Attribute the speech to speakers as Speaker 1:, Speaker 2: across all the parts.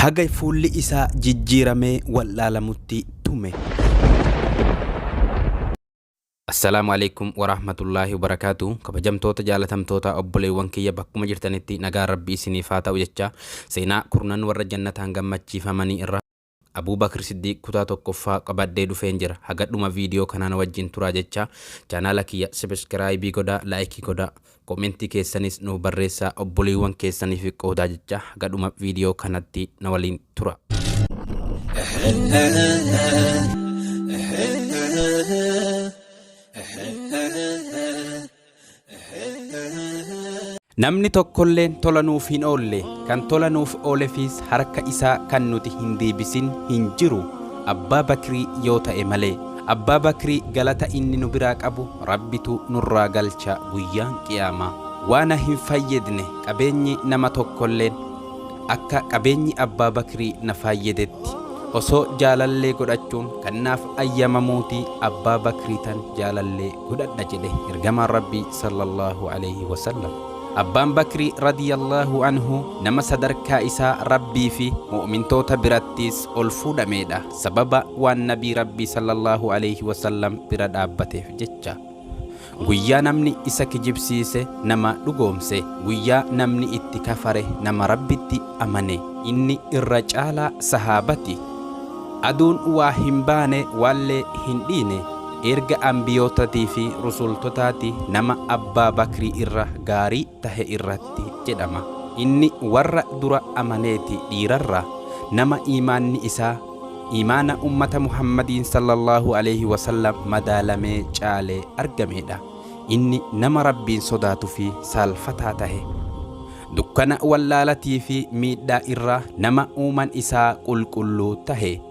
Speaker 1: Haga fuulli isaa jijjiiramee wal'aalamutti tume. Assalaamu Aleeykum Waraahmatullaahi Wabarakaatu Kabajamtoota jaalatamtoota obboleewwan kiyya bakkuma jirtanitti nagaan Rabbii isiniif haa ta'u jechaa seenaa kurnan warra jannataan gammachiifamanii irraa Abuu Bakr Siddiiq kutaa tokkoffaa qabadhee dhufeen jira haga dhuma video kanaa na wajjin turaa jechaa channel kiyya Subscribe godhaa like godhaa Comment keessanis nuuf barreessaa obboleewwan keessaniif qoodaa jechaa haga dhuma video kanatti na waliin turaa. Namni tokkolleen tola nuuf hin oolle, kan tola nuuf oolefiis harka isaa kan nuti hin deebisin hin jiru, Abbaa Bakrii yoo ta'e malee. Abbaa Bakrii galata inni nu biraa qabu Rabbitu nurraa galcha Guyyaan Qiyaamaa. Waana hin faayyadne qabeenyi nama tokkolleen akka qabeenyi Abbaa Bakrii na faayyadetti. Osoo jaalallee godhachuun kan naaf ayyamamuutii Abbaa Bakriitan jaalallee godhadha jedhe ergamaan rabbii sallallaahu aleyhi wasallam abbaan bakri radiyallaahu anhu nama sadarkaa isaa rabbii fi mu'mintoota birattiis ol fuudhameedha sababa waan nabii rabbii sallallaahu aleyhi wasallam bira dhaabbateef jecha guyyaa namni isa kijibsiise nama dhugoomse guyyaa namni itti kafare nama rabbitti amane inni irra caalaa sahaabati aduun waa hin baane waallee hin dhiine Erga Anbiyootatii fi Rusultotaati nama Abbaa Bakrii irra gaarii tahe irratti jedhama. Inni warra dura amaneeti dhiirarraa nama iimaanni isaa iimaana ummata Muhammadiin sallallaahu aleyhi wa sallam madaalamee caale argameedha. Inni nama Rabbiin sodaatu fi saalfataa tahe. Dukkana wallaalatii fi miidhaa irraa nama uuman isaa qulqulluu tahe.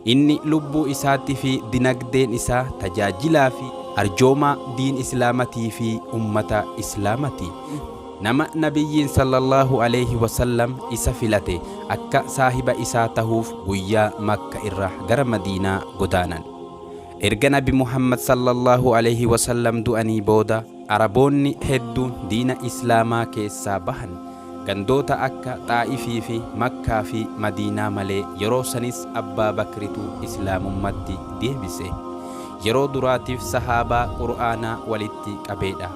Speaker 1: Inni lubbuu isaatti fi dinagdeen isaa tajaajilaa fi arjoomaa diin islaamatii fi ummata islaamati. Nama Nabiyyiin sallallaahu aleeyhi wasallam isa filate akka saahiba isaa tahuuf guyyaa Makka irraa gara Madiinaa godaanan. Erga Nabi Muhammad sallallaahu aleeyhi wasallam du'anii booda, Araboonni hedduun diina Islaamaa keessaa bahan gandoota akka Xaa'ifii fi Makkaa fi Madiinaa malee yeroo sanis Abbaa Bakritu Islaamummatti deebise. Yeroo duraatiif Sahaabaa Qur'aanaa walitti qabeedha.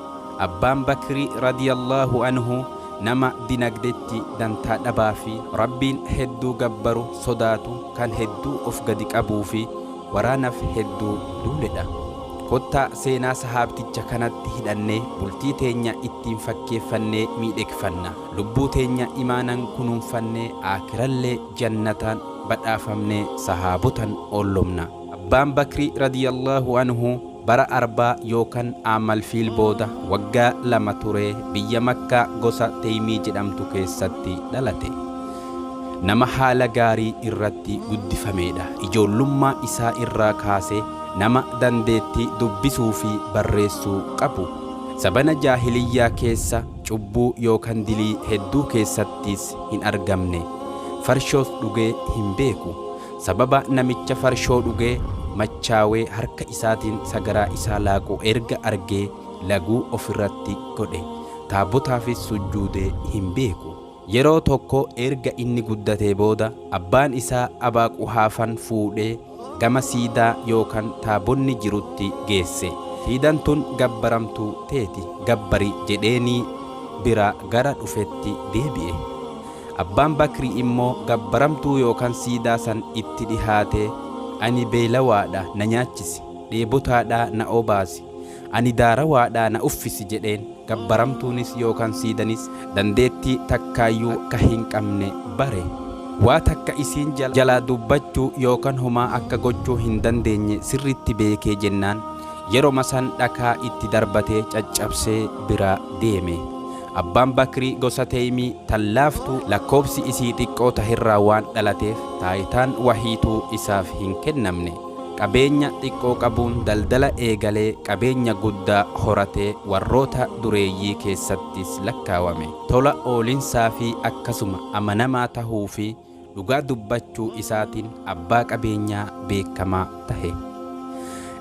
Speaker 1: Abbaan Bakri radiyallaahu anhu nama dinagdetti dantaa dhabaa fi Rabbiin hedduu gabbaru sodaatu kan hedduu of gadi qabuu fi waraanaf hedduu duuledha. Kottaa seenaa sahaabticha kanatti hidhannee bultii teenya ittiin fakkeeffannee miidhegfanna. Lubbuu teenya imaanan kunuunfannee aakhirallee jannataan badhaafamnee sahaabotan oollomna. Abbaan Bakrii radiyallaahu anhu. Bara Arbaa yookan Aamal Fiil booda waggaa lama turee biyya Makkaa gosa Teymii jedhamtu keessatti dhalate. Nama haala gaarii irratti guddifameedha. Ijoollummaa isaa irraa kaasee nama dandeettii dubbisuu fi barreessuu qabu. Sabana Jaahiliyyaa keessa cubbuu yookan dilii hedduu keessattis hin argamne. Farshoos dhugee hin beeku. Sababa namicha farshoo dhugee machaawee harka isaatiin sagaraa isaa laaqu erga argee laguu of irratti godhe. Taabotaafis sujjuudee hin beeku. Yeroo tokko erga inni guddatee booda abbaan isaa Abaaquhaafan fuudhee gama siidaa yookan taabonni jirutti geesse. Siidan tun gabbaramtuu teeti gabbari jedheenii biraa gara dhufetti deebi'e. Abbaan Bakri immoo gabbaramtuu yookaan siidaa san itti dhihaatee, Ani beeylawaadha, na nyaachisi, dheebotaadha, na obaasi, ani daarawaadha, na uffisi jedheen. Gabbaramtuunis yookaan siidanis dandeettii takkaayyuu akka hin qabne bare. Waa takka isiin jalaa dubbachuu yookaan homaa akka gochuu hin dandeenye sirriitti beekee jennaan, yeroma san dhakaa itti darbatee caccabsee biraa deeme. Abbaan Bakrii gosa Teymii tan laaftuu lakkoofsi isii xiqqoo taherraa waan dhalateef taayitaan wahiituu isaaf hin kennamne. Qabeenya xiqqoo qabuun daldala eegalee qabeenya guddaa horatee warroota dureeyyii keessattis lakkaawame. Tola oolinsaa fi akkasuma amanamaa tahuu fi dhugaa dubbachuu isaatiin abbaa qabeenyaa beekamaa tahe.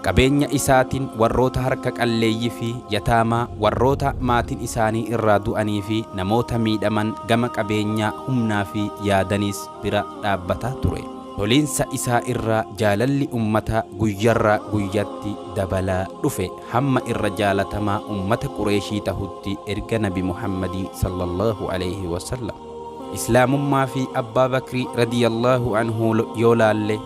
Speaker 1: Qabeenya isaatiin warroota harka qalleeyyii fi yataamaa, warroota maatiin isaanii irraa du'anii fi namoota miidhaman gama qabeenyaa, humnaa fi yaadaniis bira dhaabbataa ture. Toliinsa isaa irraa jaalalli ummataa guyyarraa guyyatti dabalaa dhufe, hamma irra jaalatamaa ummata Qureeshii tahutti erga Nabi Muhammadii, Sallallaahu aleyhi wa sallam. Islaamummaa fi Abbaa Bakri radiyallaahu anhu yoo laalle,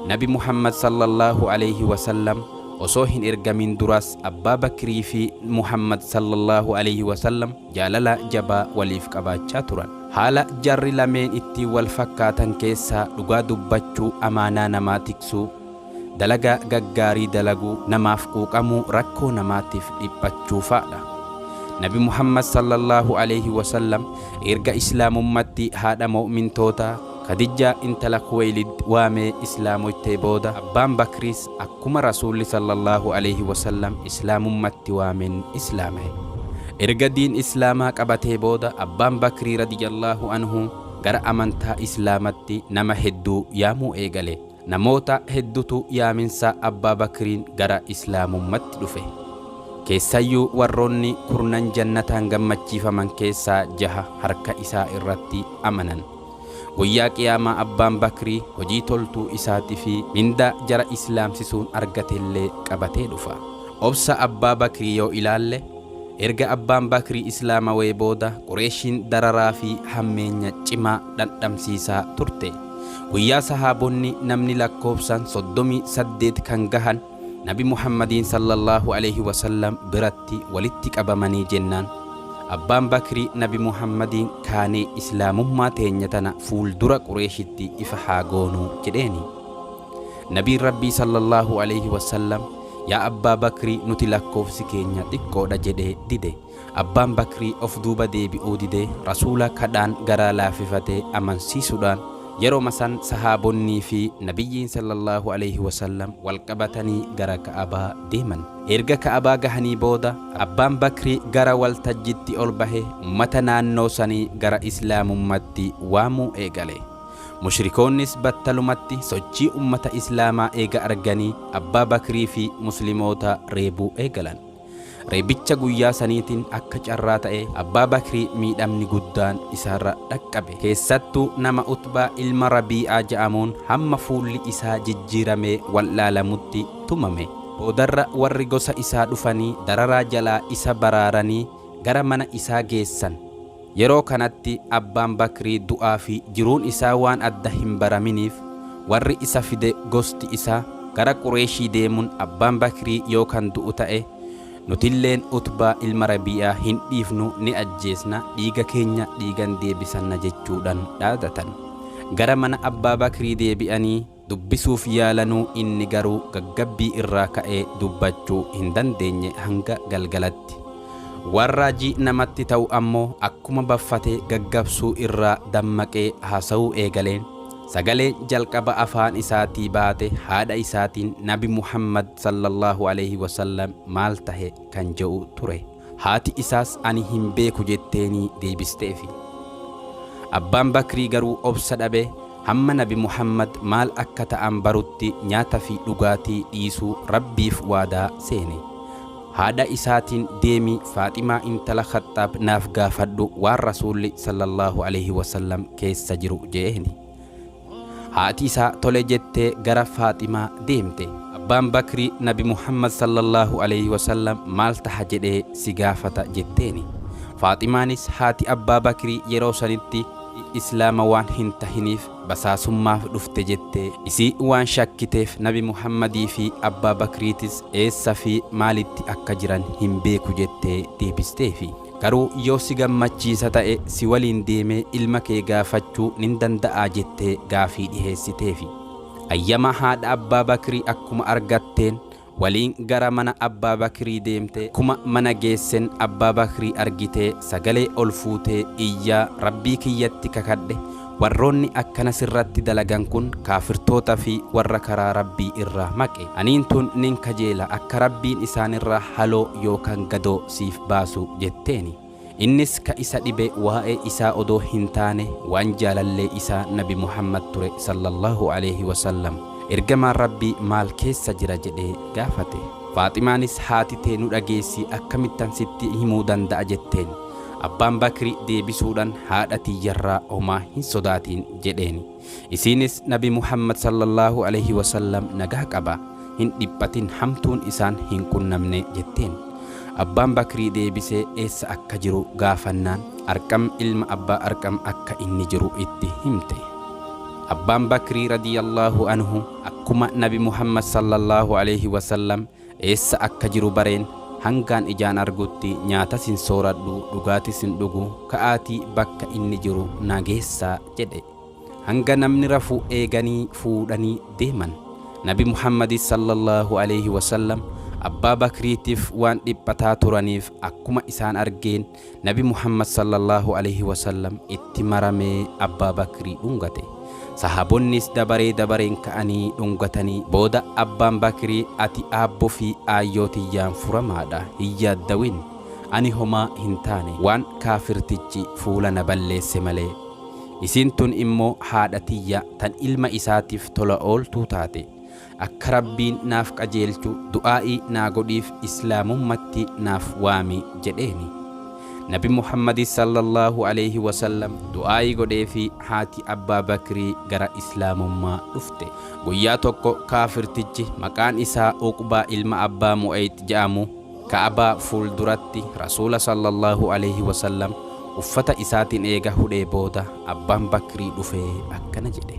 Speaker 1: Nabi Muhammad sallallaahu aleyhi wa sallam osoo hin ergamin duras Abbaa Bakrii fi Muhammad sallallaahu aleyhi wa sallam jaalala jabaa waliif qabaachaa turan. Haala jarri lameen ittiin wal fakkaatan keessaa dhugaa dubbachuu, amaanaa namaa tiksuu, dalaga gaggaarii dalaguu, namaaf quuqamuu, rakkoo namaatiif dhiphachuu faadha. Nabi Muhammad sallallaahu aleeyhi wasallam erga Islaamummatti haadha mo'mintootaa, Khadijjaa intala Khuweylid waamee Islaamoytee booda, Abbaan Bakriis akkuma Rasuulli sallallaahu aleeyhi wasallam Islaamummatti waameen Islaamaye. Erga diin Islaamaa qabatee booda Abbaan Bakrii radiyallaahu anhu gara amantaa Islaamatti nama hedduu yaamuu eegale. Namoota heddutu yaaminsa Abbaa Bakriin gara Islaamummatti dhufe. Keessayyuu warroonni kurnan jannataan gammachiifaman keessaa jaha harka isaa irratti amanan. Guyyaa Qiyaamaa Abbaan Bakrii hojii toltuu isaati fi mindaa jara Islaamsisuun argatellee qabatee dhufa. Obsa Abbaa Bakrii yoo ilaalle, erga Abbaan Bakrii Islaamawee booda Qureeshiin dararaa fi hammeenya cimaa dhandhamsiisaa turte. Guyyaa sahaabonni namni lakkoofsaan 38 kan gahan Nabi Muhammadiin sallallaahu aleeyhi wasallam biratti walitti qabamanii jennaan Abbaan Bakri Nabi Muhammadiin kaanee Islaamummaa teenya tana fuuldura Qureeshitti ifa haa goonuu jedheeni. Nabiin Rabbii sallallaahu aleeyhi wasallam yaa Abbaa Bakri nuti lakkoofsi keenya xiqqoodha jedhee dide. Abbaan Bakrii of duuba deebi'uu didee Rasuula kadhaan garaa laafifate amansiisudhaan yeroma san sahaabonnii fi Nabiyyiin sallallaahu aleeyhi wasallam wal qabatanii gara Ka'abaa deeman. Erga Ka'abaa gahanii booda Abbaan Bakrii gara wal tajjitti ol bahe ummata naannoo sanii gara Islaamummatti waamuu eegale. Mushrikoonnis battalumatti sochii ummata Islaamaa eega arganii Abbaa Bakrii fi Muslimoota reebuu eegalan. Reebicha guyyaa saniitiin akka carraa ta'ee Abbaa Bakrii miidhamni guddaan isaarra dhaqqabe. Keessattuu nama Utbaa ilma Rabii'aa ja'amuun hamma fuulli isaa jijjiiramee wal'aalamutti tumame. Boodarra warri gosa isaa dhufanii dararaa jalaa isa baraaranii gara mana isaa geessan. Yeroo kanatti Abbaan Bakrii du'aa fi jiruun isaa waan adda hin baraminiif warri isa fide gosti isaa gara Qureeshii deemun Abbaan Bakrii yoo kan du'u ta'e nutilleen Utbaa ilma Rabii'aa hin dhiifnu ni ajjeesna dhiiga keenya dhiigan deebisanna jechuudhan dhaadatan. Gara mana Abbaa Bakrii deebi'anii. dubbisuuf yaalanuu inni garuu gaggabbii irraa ka'ee dubbachuu hin dandeenye hanga galgalatti. Waan raajii namatti ta'u ammoo akkuma baffatee gaggabsuu irraa dammaqee haasa'uu eegaleen sagaleen jalqaba afaan isaatii baate haadha isaatiin Nabi Muhammad, sallallahu aleyhi wa sallam, maal tahe? kan je'u ture. Haati isaas ani hin beeku jetteenii deebisteefi. Abbaan Bakrii garuu obsa dhabe hamma Nabi Muhammad maal akka ta'an barutti nyaata fi dhugaatii dhiisuu Rabbiif waadaa seene. Haadha isaatiin deemi Faaximaa intala Khaxxaab naaf gaafadhu waan Rasuulli, Sallallaahu aleyhi wa sallam, keessa jiru je'eeni. Haati isaa tole jettee gara Faaximaa deemte. Abbaan Bakrii Nabi Muhammad sallallaahu aleeyhi wasallam maal taha jedhee si gaafata jetteeni. Faaximaanis haati Abbaa Bakrii yeroo sanitti Islaama waan hin tahiniif basaasummaaf dhufte jette. Isii waan shakkiteef Nabi Muhammadii fi Abbaa Bakriitis eessa fi maalitti akka jiran hin beeku jettee deebisteefi. Garuu yoo si gammachiisa ta'e si waliin deemee ilma kee gaafachuu nin danda'aa jettee gaafii dhiheessiteefi. Ayyama haadha Abbaa Bakrii akkuma argatteen waliin gara mana Abbaa Bakrii deemte akkuma mana geessen Abbaa Bakrii argitee sagalee ol fuutee iyyaa Rabbii kiyyatti kakadhe Warroonni akkana sirratti dalagan kun kaafirtoota fi warra karaa Rabbii irraa maqe. Aniin tun nin kajeela akka Rabbiin isaanirraa haloo yookan gadoo siif baasu jetteeni. Innis ka isa dhibe waa'ee isaa odoo hin taane waan jaalallee isaa Nabi Muhammad ture sallallaahu aleeyhi wasallam. Ergamaan Rabbii maal keessa jira jedhee gaafate. Faaximaanis haati tee nu dhageessi akkamittan sitti himuu danda'a jetteen. Abbaan Bakri deebisuudhan haadha tiyyarraa homaa hin sodaatiin jedheen. Isiinis Nabi Muhammad sallallaahu alayhi wa sallam nagaa qaba, hin dhiphatin hamtuun isaan hin qunnamne jetteen. Abbaan Bakri deebisee eessa akka jiru gaafannaan Arqam ilma Abbaa Arqam akka inni jiru itti himte. Abbaan Bakri radiyallaahu anhu akkuma Nabi Muhammad sallallaahu alayhi wa sallam Eessa akka jiru bareen hangaan ijaan argutti nyaatas hin sooradhu, dhugaatis hin dhugu, ka'aatii bakka inni jiru na geessaa jedhe. Hanga namni rafu eeganii fuudhanii deeman. Nabi Muhammadis sallallaahu aleeyhi wasallam Abbaa Bakriitiif waan dhiphataa turaniif akkuma isaan argeen Nabi Muhammad sallallaahu aleeyhi wasallam itti maramee Abbaa Bakrii dhungate. Sahaabonnis dabaree dabareen ka'anii dhungatanii booda Abbaan Bakrii ati aabbo fi aayyoo tiyyaan furamaadha hin yaaddawin ani homaa hin taane waan kaafirtichi fuula na balleesse malee. Isiin tun immoo haadha tiyya tan ilma isaatiif tola ooltuu taate. Akka Rabbiin naaf qajeelchu du'aa'ii naa godhiif Islaamummatti naaf waami jedheeni. Nabi Muhammadi sallallaahu aleeyhi wasallam du'aa'ii godheefii haati Abbaa Bakrii gara Islaamummaa dhufte. Guyyaa tokko kaafirtichi maqaan isaa Uqbaa ilma Abbaa Mu'ayx je'amu Ka'abaa fuulduratti Rasuula sallallaahu aleeyhi wasallam uffata isaatin eega hudhee booda Abbaan Bakrii dhufee akkana jedhe.